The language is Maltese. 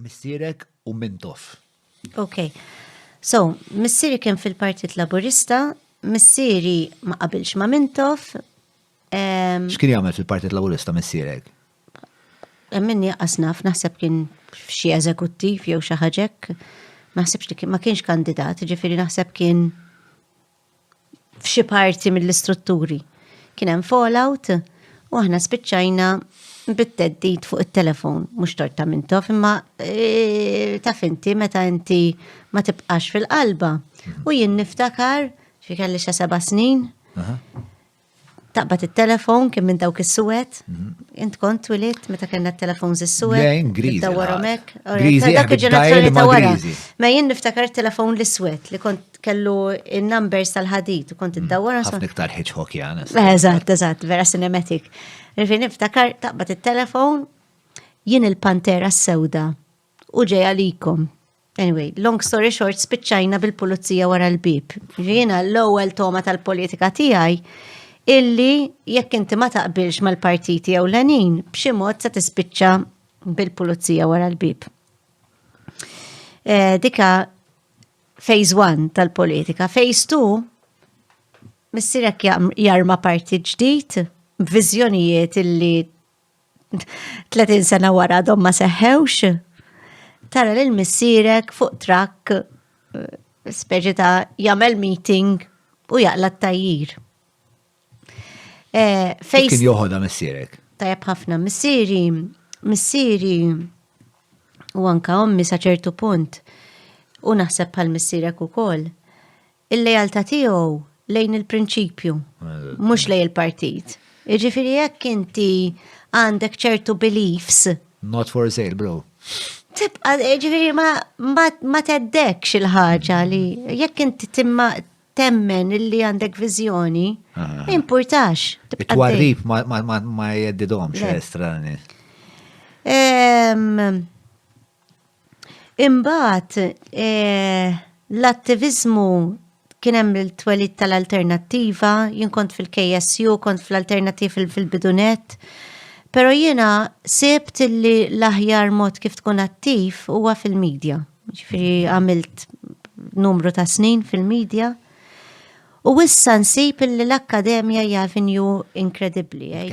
Missierek u Mintoff. Ok. So, missieri kien fil-Partit Laburista, missieri ma qabilx ma' Mintoff. Ehm, X'kien jagħmel fil-Partit Laburista missierek? Minni għasnaf, naħseb kien xie eżekuttiv jew xaħġek. Ma naħsebx li kien, ma kienx kandidat, ġifiri naħseb kien f'xi parti mill-istrutturi kien hemm fallout u aħna spiċċajna bit-teddit fuq it-telefon, mhux torta minn tof, imma e, taf inti meta inti ma tibqax fil-qalba. U jien niftakar, xi kelli xa seba' snin, Taqbad it-telefon kien minn dawk is-suwed. Int kont twilit meta kellna t-telefon is-suwed. Lejn griżi. Dawwarhom hekk. Griżi dak il-ġenerazzjoni ta' wara. Ma jien niftakar telefon l-iswed li kont kellu in-numbers tal-ħadid u kont id-dawwar. Mm, ħafna iktar ħiġħok jana. Eżatt, eżatt, vera cinematic. Rifi niftakar taqbad it-telefon jien il-pantera s-sewda u ġej għalikom. Anyway, long story short, spiċċajna bil-pulizija wara l-bib. Ġina l-ewwel toma tal-politika tiegħi illi jekk inti ma taqbilx mal-partiti jew l-għanin, b'xi mod se tispiċċa bil-pulizija wara l-bib. Eh, dika phase 1 tal-politika. Phase 2 missirek jarma parti ġdid b'viżjonijiet illi 30 sena wara dom ma seħħewx, tara lil missierek fuq trakk eh, speċi ta' jagħmel meeting u jaqla t-tajjir. Eh, fejn kien joħodha missierek? Tajab ħafna missieri, missieri u anka ommi sa ċertu punt u naħseb bħal missierek ukoll. Il-lealtà tiegħu lejn il-prinċipju, mhux lejn il-partit. Jiġifieri jekk inti għandek ċertu beliefs. Not for sale, bro. Tibqa, jiġifieri ma teddekx il-ħaġa li jekk inti timma temmen illi għandek viżjoni, importax. It-twarrib ma jeddidhomx estrani. Ehm, Imbagħad eh, l-attiviżmu kien hemm il-twelid tal-alternattiva, jien kont fil-KSU, kont fl-alternattiv fil-bidunet. Pero jiena sebt li l-aħjar mod kif tkun attiv huwa fil-medja. Ġifiri għamilt numru ta' snin fil-medja. U issa nsib li l-akkademja hija avenju inkredibbli. Eh,